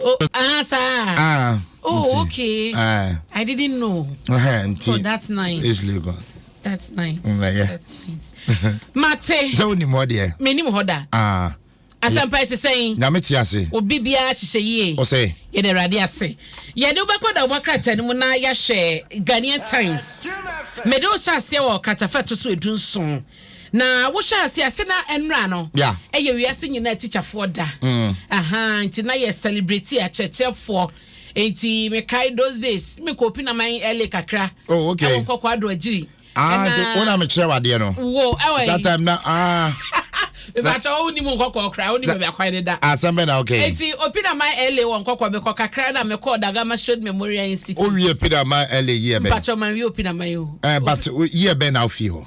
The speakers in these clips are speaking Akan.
Oh, ah, sir. Ah. Oh, okay. Ah. I didn't know. Uh-huh, so that's nice. It's legal. That's nice. Mm, yeah. That's nice. Mate. So ni mo dear. Me ni mo hoda. Ah. asɛmpa ɛte sɛn nyame te ase obi biara hyehyɛ yie ɔsɛ yɛde awurade ase yɛde wobɛkɔ da wobɔkrata no mu na yɛahyɛ ghanaian times mede wo hyɛ aseɛ wɔ kratafɛ to so ɛdu nson Na wohyɛ ase a sɛ na ɛnora no yeah. ɛyɛ wiase nyinaa tikyafoɔ da mm. aha nti na yɛ celebrate akyerɛkyerɛfoɔ nti mekae those days mekɔ opi na man ɛle kakra oh, okay. ɛwɔ nkɔkɔ ado agyiri ah, nti wo na mekyerɛ wadeɛ no wo ɛwɔ that time na ah. ìbàtà ó ní mu nkɔkɔ kura ó ní bẹ̀bẹ̀ akwan ni da. asɛm bɛ na ok. eti opinama la wɔ nkɔkɔ mi kɔ kakra na mi kɔ dagama showed memorial institute. o wiye pinama la yie bɛ. mpatwa ma n wiye opinama yi o. ɛɛ but yie bɛ na o fi hɔ.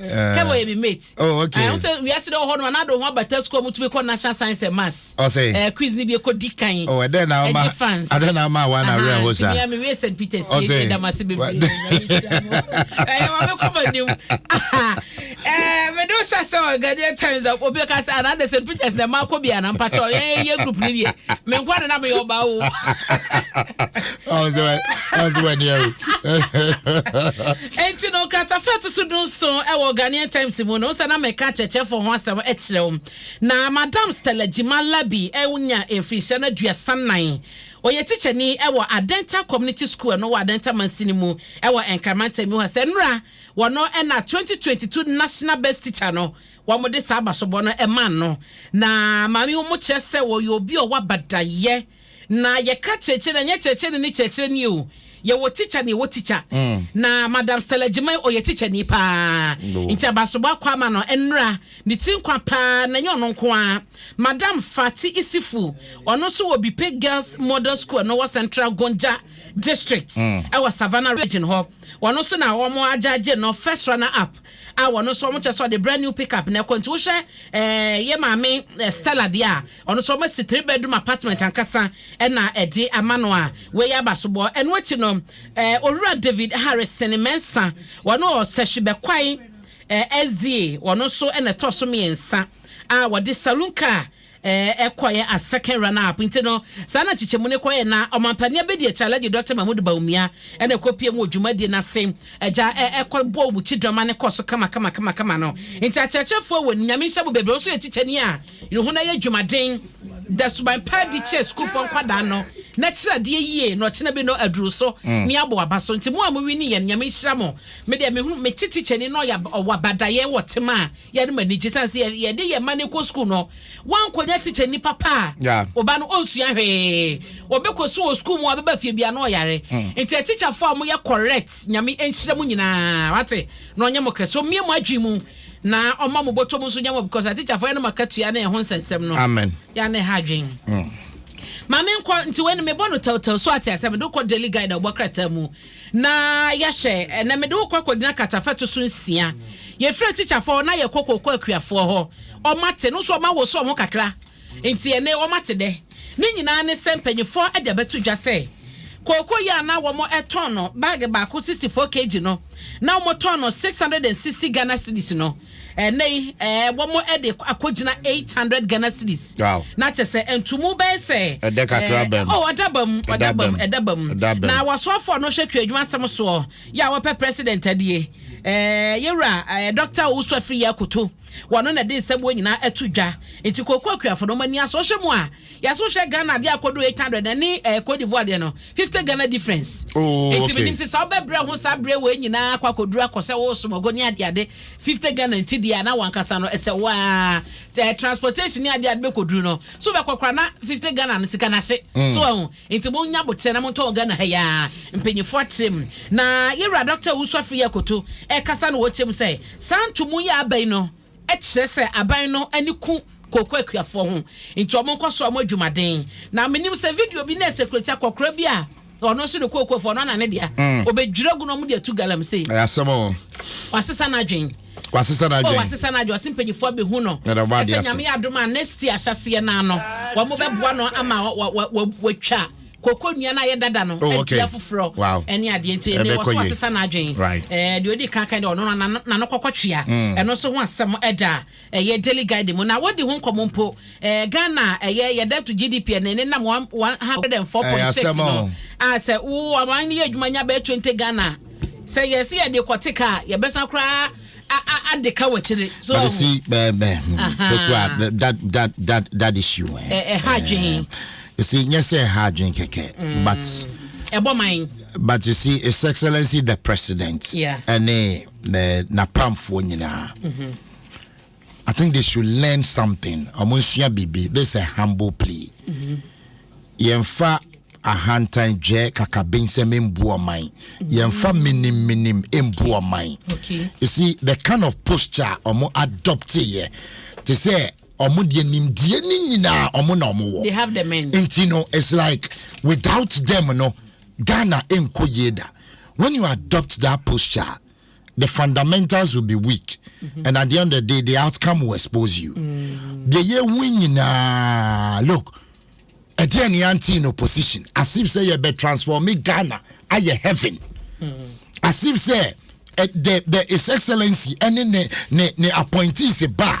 kɛbɔ yɛ mi mate oh, okay. ɛho sɛ wiase dɛ ɔhɔ no ana do ho abata sukuu ɔmo tumi kɔ national science and maths ɔsɛ ɛɛ quiz ni bi ekɔ di kan oh, ɛdɛ na ɔma fans ɛdɛ na ɔma awa na awura hɔ sa ɛmi ɛmi wiye st peters yɛ ɛdɛ damase bebree ɛyɛ wɔn mi kɔ ma nim ɛɛ mi do sa sɛ ɔ ghanaian times obi ka sɛ ana de st peters na ɛma akɔ bi ana mpata ɔ yɛ yɛ group ni yɛ mi nkɔ de na mi yɛ ɔba o. ɔsɛ wɛ ɔsɛ wɛ ni ɛwò. Enti no, nkratafa a ɛto so dunson wɔ Ghanaian Times mu no, sɛ na meka akyerɛkyerɛfo ho asɛm kyerɛ wo, na Madam Stella Gyima Labi anya mfirihyia no aduasa nnan. Ɔyɛ tikyani wɔ Adenta Community School a ɛno wɔ Adenta mansini mu wɔ Nkran mantam mu ha. Sɛ nnora, wɔno na twenty twenty two National Best Teacher no, wɔde saa abasobɔ no maa no. Na maame, wɔkyerɛ sɛ ɔyɛ obi a ɔwɔ abadayɛ. Na yɛka kyerɛkyerɛ no a, ɛnyɛ kyerɛkyerɛ no ne kyerɛkyerɛ nie o. Yɛwɔ tikya na yɛwɔ tikya. Na Madam Stella Agyemang, ɔyɛ tikyani pa ara. Nti Abasoba akɔ ama no nnera, ne tiri nkwa pa ara, na ɛnyɛ ɔno nko ara. Madam Fati Isifu, ɔno nso wɔ Bipe Girls Model School a ɛno wɔ Central Gonja District wɔ Savannah Region hɔ. Ɔno nso na wɔagyagye no First Runner Up a ɔno nso wɔkyerɛ sɛ ɔde brand new pick up na ɛkɔ. Nti wohwɛ ɛɛ yɛn maame Stella deɛ a, Ɔno nso wɔasi three bedroom apartment ankasa na ɛde ama no a wei yɛ abasobɔ. Ɛno akyi no, eh, Owura David Harrison Mensah, wɔne Ɔsɛhye Bɛkwae eh, SDA, wɔno nso na ɛtɔ so mmiɛnsa a wɔde saloon car eh, ɛkɔeɛ as second runner up. Nti no, saa na nkyekyɛmu no kɔeɛ na ɔmampanin abɛdi akyi Alhaji Dr. Mahmood Bawumia na ɛkɔpie mu wɔ dwumadie no ase agya eh, ɛkɔbɔ wɔn kyidɔma no kɔɔ so kama kama kama kama no. Nti akyerɛkyerɛfoɔ wɔ ni, Nyame nhyɛ mo bebree, wɔn nso yɛ tikyani a Yohana yɛ dwumaden da suban pa adi kyerɛ sukuufoɔ nkwadaa no, na kyerɛ adeɛ yie na ɔkyena bi no aduru so ne abɔ aba so. Nti mo a mo wini yɛn no Nyame nhyira mo. Me deɛ me hunu, me te tikyani no ɔyɛ ɔwɔ abadaeɛ wɔ tema a yɛnom ani gye sane sɛ yɛde yɛn mma no rekɔ sukuu no. Wankɔnya tikyani papa a ɔba no ɔnsua hwee. Ɔbɛkɔsu wɔ sukuu mu a ɔbɛba fie biara na ɔyare. Nti atikyafoɔ a mo yɛ correct Nyame nhyira mo nyinaa wate na ɔnyɛ mo kɛse. Ɔmmie mo adwene mu. Na ɔma mo bɔtɔ mu nso nya mo because atikyafoɔ yɛ nom akatua ne ɛho nsɛnsɛm no. Amen. Yɛ ana ɛha adwen. Mm. Maame nkɔ nti wei no mebɔ no tɛwtɛw so ate asɛ mede wokɔ daily guide a wobɔ krataa mu na yɛahyɛ ɛnɛ mede wokɔ akɔgyina katafa to so nsia yɛfiri atikyafoɔ na yɛkɔ kɔkɔ akuafoɔ hɔ ɔma te no so ɔma wo so ɔho kakra Enti ɛne wɔn ate dɛ. Ne nyinaa ne sɛ mpanyinfoɔ de abɛto dwa sɛ kooko yi a na wɔn tɔn no bag baako sixty four kg no na wɔn tɔn no six hundred and sixty Ghana cedis no ɛnɛ yi ɛɛ wɔn de akɔ gyina eight hundred Ghana cedis na kyɛ sɛ ntumu bɛyɛ sɛ ɛdɛ kakra bɛm oh ɔda bɛm ɔda bɛm ɛda bɛm na wɔsoafoɔ no hwɛ kuadwuma asɛm soɔ yɛ a wɔpɛ president adie ɛɛ yɛwura ɛɛ dɔkta owusu afiri yɛ akoto. Wɔno na ɛde nsɛmmoa nyinaa ɛto dwa. Nti Koko Akuafo no, mo ani asɔ. Wohwɛ mu a, yɛse wohwɛ Ghana adeɛ a ɛkɔduru eight hundred na ɛne eh, Cote d'Ivoire deɛ no, fifty Ghana difference. Oh, Nti okay. menim se saa wobɛbrɛ ho saa bere wei nyinaa akɔ akɔduru akɔ sɛ wo somɔgo ne adeade, fifty Ghana nti deɛ a na wankasa no ɛsɛ wo ara eh, transportation ne adeade bɛkɔduru no. So wobɛkɔ koraa na fifty Ghana no sika no ase. So wahu? Nti mo nya aboterɛ na mo ntɔn Ghana ha yi aa mpanyinfoɔ akyerɛ mu na yɛwura Doctor Owusu afei akoto ɛkasa na ɔkyerɛ mu sɛ saa ntomu yi a aba yi no kyerɛ sɛ aban no ani ku kooko akuafoɔ ho nti ɔmo nkɔ so ɔmo adwumaden na menim sɛ video bi na security akɔkora bi a ɔno nso ne kookofoɔ no ana ne dea ɔbɛdwira gu na ɔmo de atu galamsey wasesa n'adwen. wasesa n'adwene oh, wasesa n'adwene ɔsi mpanyinfoɔ bi hu no ɛsɛ nyame yɛ adum a next year ahyɛseɛ naa no wɔn bɛ boa no ama wɔtwa koko nnua no ayɛ dada no ɛdi oh, afoforɔ ɛne adeɛ nti ɛmɛ wɔ so wasesa n'adwene ɛɛ deɛ odi kankan deɛ ɔno nano kɔkɔ twea hmm. ɛno nso ho asɛm ɛda ɛyɛ daily guide mu na wɔdi ho nkɔmɔ mpo. Ɛɛ Ghana a ɛyɛ yɛ dɛ to GDP a na ɛne nam one one hundred and four point six no a sɛ wo aman no yɛ adwuma nya bɛyɛ twenty Ghana a sɛ yɛ se yɛde kɔ te ka a yɛ bɛsan koraa ade ka wɔ kyire so ɔho. But see bɛɛ bɛɛ hmm, pekua that that that that issue eh, eh, eh ɛha adwene. You see nyɛ sɛ ɛha adwene kɛkɛ hmm. but. ɛbɔ man. But you see His Excellency the President. Yeah. Ɛne eh, n'apamfoɔ nyinaa. Mm-hmm. I think they should learn something. Ɔmo nsua biribi. This is a humble plea. Yɛnfa ahantan dwɛ kakabensɛm mbu ɔman. Yɛnfa minim minim mbu ɔman. You see the kind of posture a ɔmo adopt yɛ te sɛ ɔmo deɛ nimdeɛ ne nyinaa ɔmo na ɔmo wɔ. They have the men. Nti no it's like without them no Ghana nkɔ yie da. When you adopt that posture. the fundamentals will be weak mm-hmm. and at the end of the day the outcome will expose you mm. deɛ yɛhu nyinaa look ɛdeɛ ne ante in opposition as if sɛ yɛbɛ transform ghana ayɛ heaven mm. as if sɛ eh, the the his excellency ɛne ne ne ne appointees ba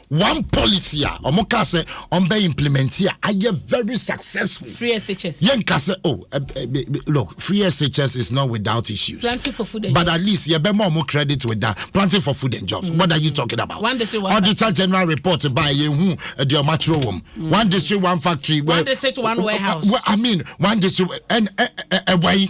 one policy a wɔn kaa sɛ wɔn bɛ implement a ayɛ very successful. free shs. yɛn nka sɛ oh eh, eh, eh, look free shs is not without issues. planting for food and but jobs. at least yɛ bɛ ma wɔn credit with that planting for food and jobs. Mm. what are you talking about. one district one auditor factory. general report ba yɛn hu ɛdi ɔmo atwerɛ wɔm. Mm. one district one factory. one district one warehouse. Well, I mean one district ɛn ɛ ɛ ɛwɔ yi.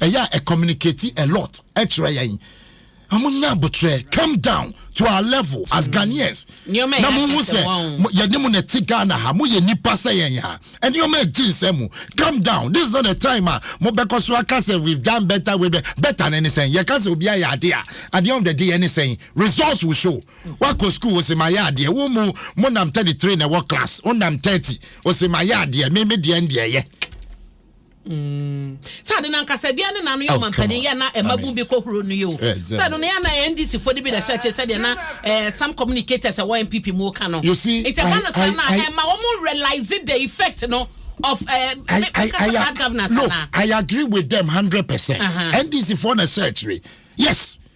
ɛyɛ a ɛ communicate a lot ɛkyerɛ yɛn ɔmo nya abotrɛ come down to our level as mm. ghanaians na mo ho sɛ yɛne mo na ɛte ghana ha mo yɛ nipa sɛ yɛn ha nneɛma ɛgye nsɛm mu come down this is not the time a mo bɛkɔ so aka sɛ we've done better we better ne ne sɛn yɛka sɛ obi ayɛ adeɛ a at the end of the day yɛ ne sɛn results will show wakɔ school wɔsi ma yɛ adeɛ wɔn mu mo nam thirty three na ɛwɔ class wɔn nam thirty wɔsi ma yɛ adeɛ mímí deɛ deɛ yɛ. Mm. Sɛ ade no ankasa bia ne nano yɛ oh, ɔmampanin yɛ na ɛma bum bi kɔhoro no yɛ o eh, sɛ ɛno no yɛ na ndc foɔ no bi na ɛhyɛ akyɛ sɛdeɛ na eh, some communicators ɛwɔ npp mu ka no nti ɛba no saa no a ɛma wɔn realize the effect no of uh, I, I, I, I, governance look, I agree with them 100% uh-huh. ndc foɔ na ɛhyɛ akyire yes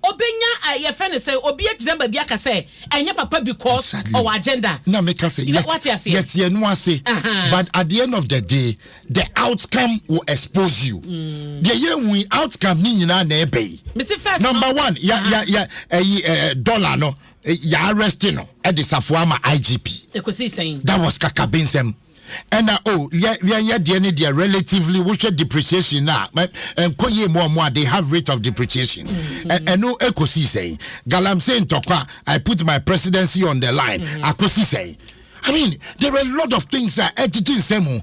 Obenya a yɛfrɛ no sɛ obi agyina baabi aka sɛ ɛnyɛ papa because ɔwɔ agenda. Na meka sɛ yɛte ɛno ase but at the end of the day the outcome will expose you. Deɛ yɛhu yi outcome ne nyinaa na ɛbɛ yi. Mesi first no. Number one ya ya ya ɛyi ɛɛ dollar no ya arrest no ɛde safoa ma IGP. Ekosi sɛn? That was kakabensɛm. ɛna o oh, yɛ yɛn yɛ deɛ ne deɛ relatively wohwɛ depreciation na ɛnkɔ yie mu ɔmo a they have rate of depreciation mm-hmm. ɛno ekosi sɛn galamsey ntɔkwa i put my presidency on the line mm-hmm. akosi sɛn i mean there are a lot of things a ɛgyegye nsɛm mu.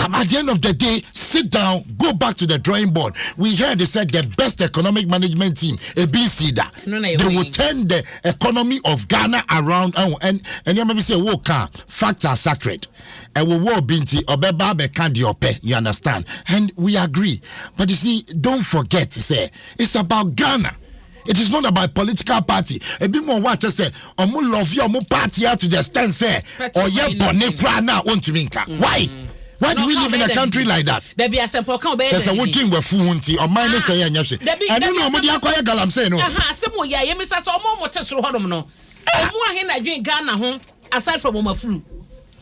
Um, at the end of the day, sit down, go back to the drawing board. We heard they said the best economic management team, a BC that. they will turn the economy of ghana around ɛho nneɛma bi sɛ wo ka facts are sacred ɛwɔ wɔ obi nti ɔbɛba abɛka deɛ ɔpɛ you understand and we agree but you see don't forget say it's about ghana it is not about political party ebi mu ɔwɔ akyɛ sɛ ɔmo love yɛ ɔmo party ya to the extent sɛ ɔyɛ bɔne koraa na ɔntumi nka mm. why why do we live in a country like that kyɛ sɛ wodwen wafu ho nti ɔman ne sɛ yɛ nyɛ hwe ɛno na ɔmode akɔyɛ galamsey no asɛm wɔ yɛ ayɛmisa sɛ ɔmo ɔmo te soro hɔnom no ɔmo ahe na dwen ghana ho aside from ɔmo afuru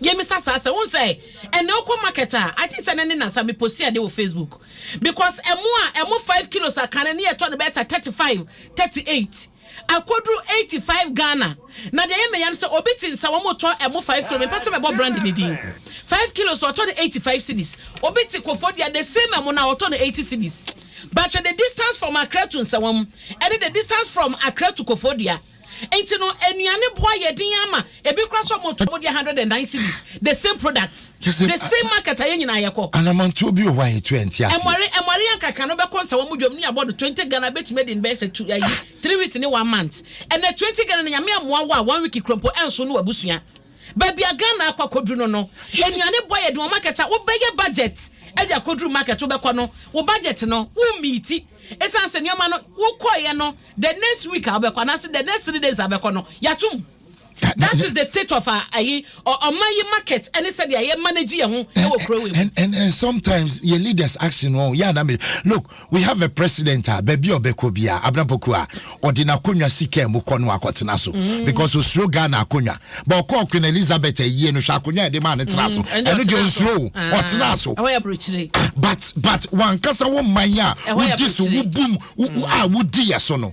yɛmisa saa sɛ wohu sɛ ɛnɛ wokɔ market a i think sɛ ne ne nasa me posti ade wɔ facebook because ɛmo a ɛmo five kilos akane ne yɛtɔ no bɛɛta thirty five thirty eight Akoduru eighty five Ghana na deɛ ɛyɛ me ya no sɛ obi te nsa wɔn tɔ ɛmo five kilo mepɛ sɛ mɛbɔ brand ne din five kilos ɔtɔ no eighty five cedis obi te Kofodua the same ɛmo na ɔtɔ no eighty cedis but hwɛ the distance from Accra to Nsawam ɛne the distance from Accra to Kofodua nti no nnuane boa yɛ den ama Ebi kora so ɔmo tɔ ɔmo deɛ hundred and nine cedis the same product the same market a yɛn nyinaa yɛ kɔ. Anamantuo bi wɔ hɔ a yɛ tu ɛnte aseɛ. Ɛmɔre ɛmɔre yɛn kakra no bɛkɔ nsa wɔn dwom ne yɛ bɔ do twenty Ghana bɛtumi adi no bɛyɛ sɛ two ayi three weeks ne one month ɛnɛ twenty Ghana no Nyame ammoa wo a one week kura mpo ɛnso no w'abusua. Baabi a Ghana akɔ akɔduru no no nnuane bɔ yɛ den wɔ market a wo bɛyɛ budget ɛde akɔduru market wo bɛkɔ no wo budget no wo meeti ɛsiane sɛ nneɛma no wo kɔeɛ no the next week a wo bɛkɔ anaase the next three days a bɛkɔ no yɛ atom that is the state of our ayi ɔman yi market ɛne sɛ deɛ yɛ manage yɛn ho ɛwɔ kuro wei mu. and and and sometimes yɛ leaders action wɔn yɛ anam look we have a president a baabi a ɔbɛkɔ bi a abirabɔku a ɔde n'akonnwa si kaa mu kɔ no akɔtena so mm. because osuro ghana akonnwa but ɔkɔ queen elizabeth ayie no hwɛ akonnwa yɛde maa ne tena mm. so ɛno deɛ osuro ah. ɔtena so ah, but but wankasa wɔn man a wodi so wobum a wodi yɛ so no.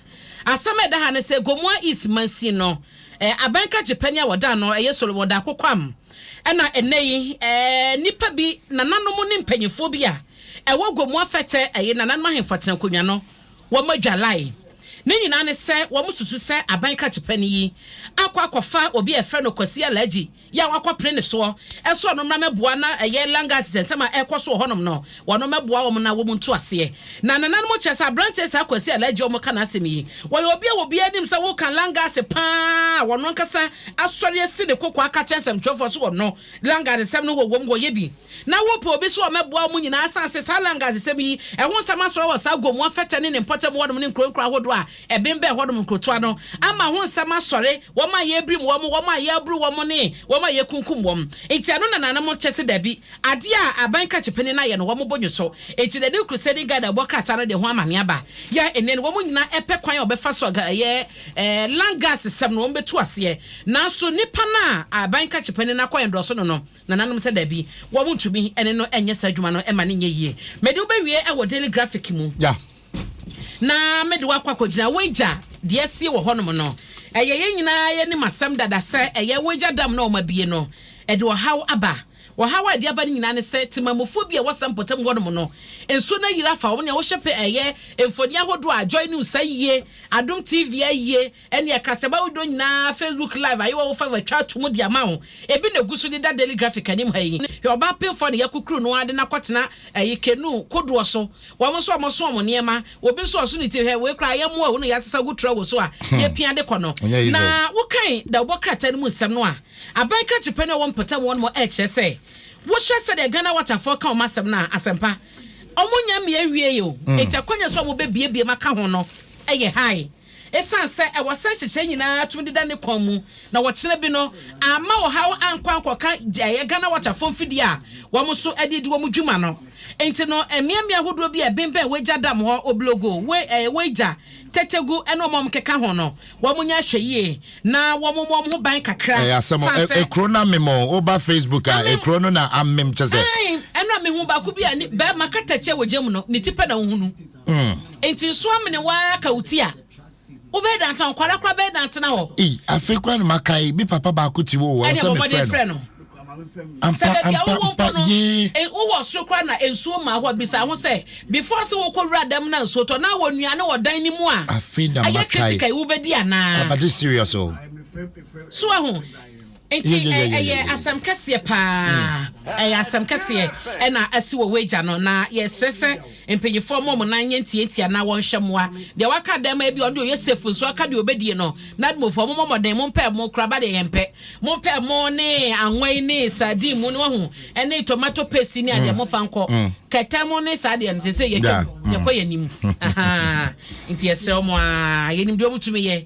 Asɛm a ɛda ha ne sɛ Gomoa East mansin no, aban krakye panyin a wɔdan no yɛ Solomon Darko Kwam na ɛnnɛ yi nnipa bi, nananom ne mpanimfoɔ bi a ɛwɔ Gomoa Fɛtɛ ɛyɛ nananom ahemfo atenankonnwa no, wɔadwalae. Ne nyinaa ne sɛ wɔsusu sɛ aban krakye panyin yi akɔ akɔfa obi a yɛfrɛ no Kwasi Alhaji Yɛ a wɔakɔpere ne soɔ sɛ ɔno mmra mɛboa na ɛyɛ Langas nsɛnsɛm a ɛrekɔ so wɔ hɔnom no, ɔno mmɛboa wɔn na wɔn ntu aseɛ. Na nananom kyerɛ sɛ aberanteɛ saa Kwasi Alagye a wɔka n'asɛm yi, ɔyɛ obi a obiara nim sɛ woka Langas pa ara a ɔno ankasa asɔre asi ne koko aka akyerɛ nsɛmtwerɛfoɔ sɛ ɔno Langas nsɛm no wɔ wɔn, wɔyɛ bi. Na wopɛ obi sɛ ɔmmɛboa wɔn nyinaa sane sɛ saa Langas nsɛm yi ɛho nsɛm asɔre wɔ saa Gomoa, Fɛtɛ ne ne mpɔtam hɔnom ne nkuronkuro ahodoɔ a Ɛbembɛn hɔnom nkurotoa no ama ho nsɛm asɔre, wɔn a yɛrebirim wɔn, wɔn a yɛreboro wɔn ne wɔn a yɛrekunkum wɔn. Enti ɛno na nananom kyɛ sɛ dabi, adeɛ a aban krakye panin no ayɛ no wɔn bo nnwo so. Enti Nadiw Crusading Guide a wɔbɔ krataa no de ho amane aba. Yɛ nnɛ no wɔn nyinaa pɛ kwan a wɔbɛfa so aga ɛyɛ Langas sɛm no wɔbɛtu aseɛ. Nanso nipa no a aban krakye panin no akɔ ɛndɔɔso no no, nananom sɛ dabi, wɔn ntumi ne no nyɛ saa adwuma no mma no nyɛ yie. Mede wobɛwie wɔ Daily Graphic mu. na mede wo akɔ akɔgyina w'agya deɛ asie wɔ hɔnom no. Ɛyɛ yɛn nyinaa yɛn anim asɛm dada sɛ ɛyɛ w'agya dam na wɔabue no. Ɛde ɔhaw aba. Ɔhaw a ɛde aba no nyinaa ne sɛ temanmufoɔ bi a wɔsɛ mpɔtam hɔnom no, nsuo no ayiri afa wɔn. Nea wohyɛ pɛ ɛyɛ mfoni ahodoɔ a Joy News ayie, Adom TV ayie, Ɛnneɛ ka sɛ w'ahodɔ nyinaa Facebook live a yɛwɔ wo fa atwa ato mu de ama wo. Ebi na ɛgu so deda Daily Graphic anim ha yi. Hwɛ ɔbaa penfoɔ na yɛakukuru no ara de no akɔtena ayi canoe kodoɔ so. Wɔn nso wɔso wɔn nneɛma. Obi nso ɔso ne ti. Hwɛ wei koraa ayɛmmoa o na yɛasesa agu trawo so a yɛpia de kɔ no. Na wokan dawubɔ krataa no mu nsɛm no a, aban krakyepɛ no a ɛwɔ mpɔtam hɔ no rekyerɛ sɛ wohwɛ sɛdeɛ Ghana Waterfoɔ ka wɔn asɛm no a, asɛmpa, wɔnnya mmie nwiei o. Enti akwanya nso a wɔbɛbuebue mu aka ho no yɛ high. Esiane sɛ ɛwɔ sɛ nhyehyɛe nyinaa tumi deda ne kɔn mu na wɔkyena bi no amma ɔhaw ankɔ ankɔka gya a ɛyɛ Ghana Waterfall mfidie a wɔn nso de redi wɔn dwuma no nti no, mmeammea ahodoɔ bi a ɛbemmɛn Wagya Dam hɔ, Oblogo, Weija, Tetegu ne wɔn a wɔkeka ho no, wɔnyɛ ahwɛyie na wɔmmɔ wɔn ho ban kakra. Ɛyɛ asɛm o. Ɛ, ekuro no amem o. Woba Facebook a, Amem. ekuro no na amem, kyɛ sɛ. Aane, ɛno a mehu baako bi a ne, barima kata ti a wɔ gya mu no, ne ti pɛ na wohunu. Mm. Nti nso amene waa ka wo ti a wobɛyɛ dantena hɔ nkwadaa koraa bɛyɛ dantena hɔ. Ee afei koraa na maka yi me papa baako ti wɔ wɔn sɛ me frɛ no. Ampa ampa ampa yee. E, wowɔ soro koraa na nsuo maa hɔ bisa ho sɛ before sɛ wokɔ wura dɛm na nsuo tɔ na wɔ nnuane wɔ dan ne mu a. Afei na maka yi. Ayɛ critical yi wobɛdi anaa. Abade serious o. So ahu. Nti ɛyɛ asɛm kɛseɛ paa, ɛyɛ asɛm kɛseɛ ɛna asi wɔ wagya no, na yɛsrɛ sɛ mpanyinfoɔ mmɔ wɔn nan nyɛ ntiantia na wɔnhwɛ mmoa deɛ waka dɛm ebi ɔno deɛ ɔyɛ safe nso aka deɛ ɔbɛdie no, nadmofoɔ mommɔ mmɔden mompɛ ɛmo kora ba deɛ yɛmpɛ, mompɛ ɛmo ne anwa yi ne sardine mu no wahu ɛne tomato paste yi ne adeɛ mm. mofa nkɔ mm. kɛtɛ mu ne saa deɛ no sɛ sɛ yɛtwa mu yɛkɔ yɛn anim nti yɛsrɛ wɔn a yɛnim deɛ wɔn tumi yɛ.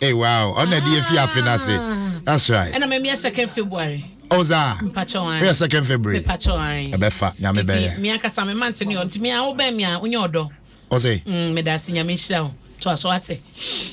Hey, wow. On the DF Yafi Nasi. That's right. And I'm a second February. Oza. Mpachoan. We are second February. Mpachoan. Ebefa. Nyame beye. Me akasa me mante ne on. Ti me a wo be me a unyo odo. Ose. Mm, me da si nyame shira o. To aso ate.